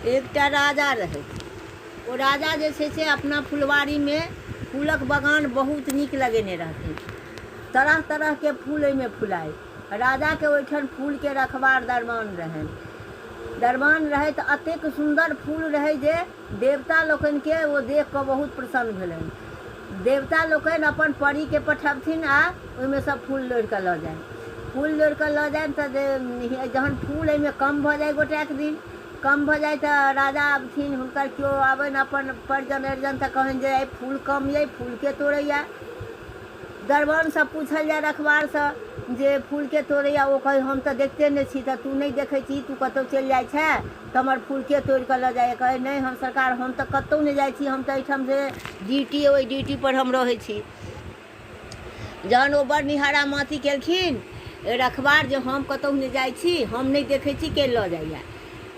एकटा राजा रहै ओ राजा जे छै से अपना फुलवारीमे फूलक बगान बहुत नीक लगेने रहथिन तरह तरहके फूल ओहिमे फुलाइ राजाके ओहिठाम फूलके रखबार दरबान रहनि दरबान रहै तऽ एतेक सुन्दर फूल रहै जे देवता लोकनि केँ ओ देख कऽ बहुत प्रसन्न भेलनि। देवता लोकनि अपन परी केँ पठबथिन आ ओहि मे सँ फूल लोढ़ि कऽ लऽ जानि। फूल लोढ़ि कऽ लऽ जानि तँ जहन फूल एहि मे कम भऽ जाइ गोटेक दिन कम भऽ जाइ तँ राजा अबथिन। हुनकर केओ अबनि अपन परिजन अरिजन तँ कहनि जे आइ फूल कम यै, फूल केँ तोड़ैए? दरबान सँ पूछल जाय रखवार सँ जे फूल केँ तोड़ैए? ओ कहथि हम तँ देखिते नहि छी तँ तू नहि देखै छीही, तू कतहु चलि जाइ छेँ। कमल फूल के तोड़ के ल जाय कहे नहीं हम सरकार हम तो कतौ नहीं जाय छी हम तो एठाम से ड्यूटी ओहि ड्यूटी पर हम रहे छी जहन ओ बड़ निहारा माथी केलखिन रखबार जे हम कतौ नहीं जाय छी हम नहीं देखे छी के ल जाइया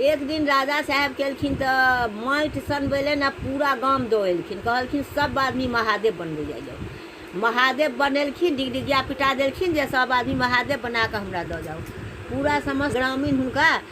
एक दिन राजा साहेब केलखिन तो माटि सनबैले ने पूरा गाम दौड़ेलखिन कहलखिन सब आदमी महादेव बनबै जाइ जाओ महादेव बनेलखिन डिगडिगिया पिटा देलखिन जे सब आदमी महादेव बना कऽ हमरा दऽ जाओ पूरा समस्त ग्रामीण हुनका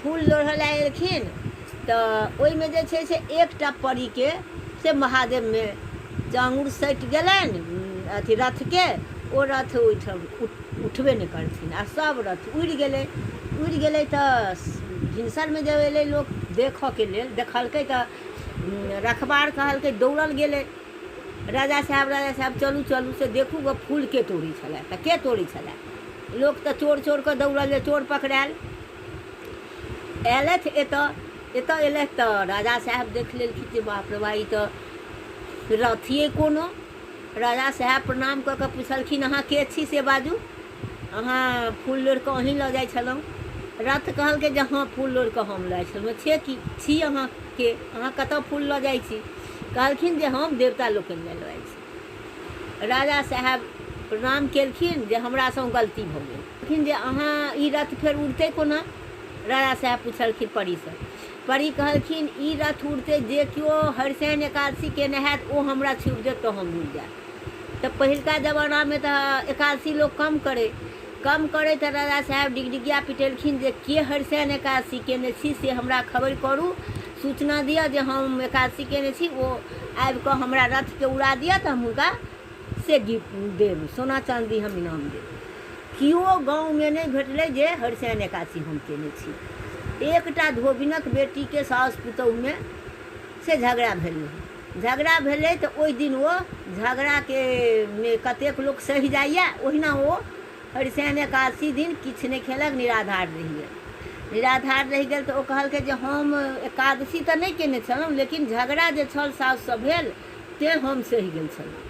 फूल लोढ़ऽ लए एलखिन तऽ ओहिमे जे छै से एकटा परीके से महादेवमे जाङ्गुर सटि गेलनि अथी रथके ओ रथ ओहिठाम उठबे नहि करथिन आ सभ रथ उड़ि गेलै उड़ि गेलै तऽ भिनसरमे जब एलै लोक देखऽके लेल देखलकै तऽ रखबार कहलकै दौड़ल गेलै राजा साहेब राजा साहेब चलू चलू से देखू गऽ फूल के तोड़ै छलए तऽ के तोड़ै छलए लोक तऽ चोर चोर कऽ दौड़ल जे चोर पकड़ायल अयलथि एतऽ एतऽ अयलथि तऽ राजा साहेब देख लेलखिन जे बाप रे बा ई तऽ रथिए कोनो राजा साहेब प्रणाम कऽ कऽ पुछलखिन अहाँ के छी से बाजू अहाँ फूल लोड़ि कऽ अहीं लऽ जाइ छलहुँ रथ कहलकै जे हँ फूल लोड़ि कऽ हम लऽ जाइ छलहुँ छे की छी अहाँ के अहाँ कतऽ फूल लऽ जाइ छी कहलखिन जे हम देवता लोकनि लए लऽ जाइ छी राजा साहेब प्रणाम केलखिन जे हमरासँ गलती भऽ गेल कहलखिन जे अहाँ ई रथ फेर उड़तै कोना राजा साहेब पुछलखिन परीसँ परी कहलखिन ई रथ उड़तै जे केओ हरिशैन एकादशी केने हैत ओ हमरा छुबि देत तऽ हम उड़ि जायब तऽ पहिलका जमानामे तऽ एकादशी लोक कम करै कम करै तऽ राजा साहेब डिगडिगिया पिटेलखिन जे के हरिशैन एकादशी केने छी से हमरा खबर करू सूचना दिअ जे हम एकादशी केने छी ओ आबि कऽ हमरा रथके उड़ा दिअ तऽ हम हुनका से गिफ्ट देब सोना चाँदी हम इनाम देब केओ गाँवमे नहि भेटलै जे हरिशैन एकादशी हम केने छी एकटा धोबिनक बेटीके साउस पुतोहुमे से झगड़ा भेल रहै झगड़ा भेलै तँ ओहि दिन ओ झगड़ाकेँ मे कतेक लोक सहि जाइए ओहिना ओ हरिशयन एकादशी दिन किछु नहि खेलक निराधार रहि गेल। निराधार रहि गेल तँ ओ कहलकै जे हम एकादशी तँ नहि केने छलहुँ लेकिन झगड़ा जे छल साउससँ भेल तेँ हम सहि गेल छलहुँ।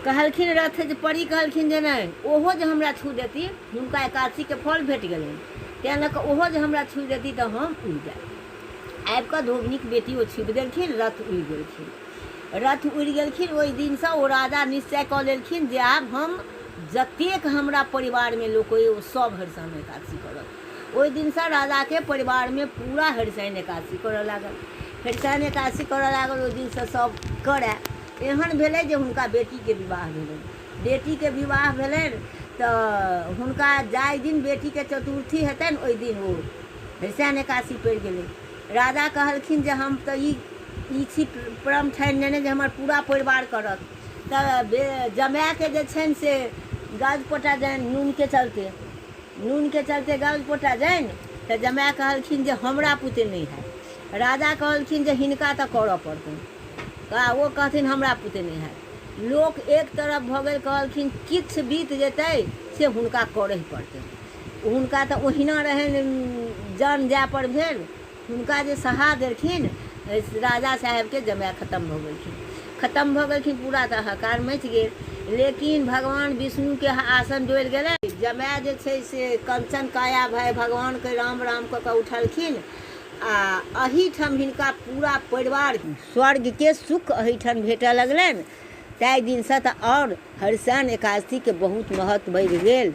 कहलखिन रथ जे परी कहलखिन जे नहि ओहो जे हमरा छू देती हुनका एकादशीक फल भेटि गेलनि तेँ लऽ कऽ ओहो जे हमरा छू देती तँ हम उड़ि जायब। आबि कऽ धोबिनीक बेटी ओ छीपि देलखिन रथ उड़ि गेलखिन रथ उड़ि गेलखिन ओहि दिनसँ ओ राजा निश्चय कऽ लेलखिन जे आब हम जतेक हमरा परिवारमे लोक अइ ओ सभ हरिशन एकादशी करत ओहि दिनसँ राजाके परिवारमे पूरा हरिशन एकादशी करय लागल हरिशन एकादशी करय लागल ओहि दिनसँ सभ करय एहन भेलै जे हुनका बेटीके विवाह भेलनि बेटीके विवाह भेलनि तऽ हुनका जाहि दिन बेटीके चतुर्थी हेतनि ओहि दिन ओ फेर सैन एकासी पड़ि गेलै राजा कहलखिन जे हम तऽ ई ई छी परम ठानि नेने जे हमर पूरा परिवार करत तऽ जमाएके जे छनि से गाज पोटा जानि नूनके चलते नूनके चलते गाज पोटा जानि तऽ जमाए कहलखिन जे हमरा पुते नहि हैत राजा कहलखिन जे हिनका तऽ करऽ पड़तनि आ ओ कहथिन हमरा पुते नहि हैत लोक एक तरफ भऽ गेल कहलखिन किछ बीत जेतै से हुनका करहे पड़तै। हुनका तँ ओहिना रहैन जान जाए पर भेल। हुनका जे सहा देलखिन राजा साहेबकेँ जमाए खतम भऽ गेलखिन। खतम भऽ गेलखिन पूरा तँ हाहाकार मचि गेल। लेकिन भगवान विष्णुकेँ आसन डोलि गेलैन। जमाए जे छै से कंचन काया भए भगवानकेँ राम-राम कऽ कऽ उठलखिन आ अहीठाम हिनका पूरा परिवारकेँ। स्वर्गके सुख अहिठाम भेटऽ लगलनि ताहि दिनसँ तऽ आओर हरिशयन एकादशीके बहुत महत्व बढ़ि गेल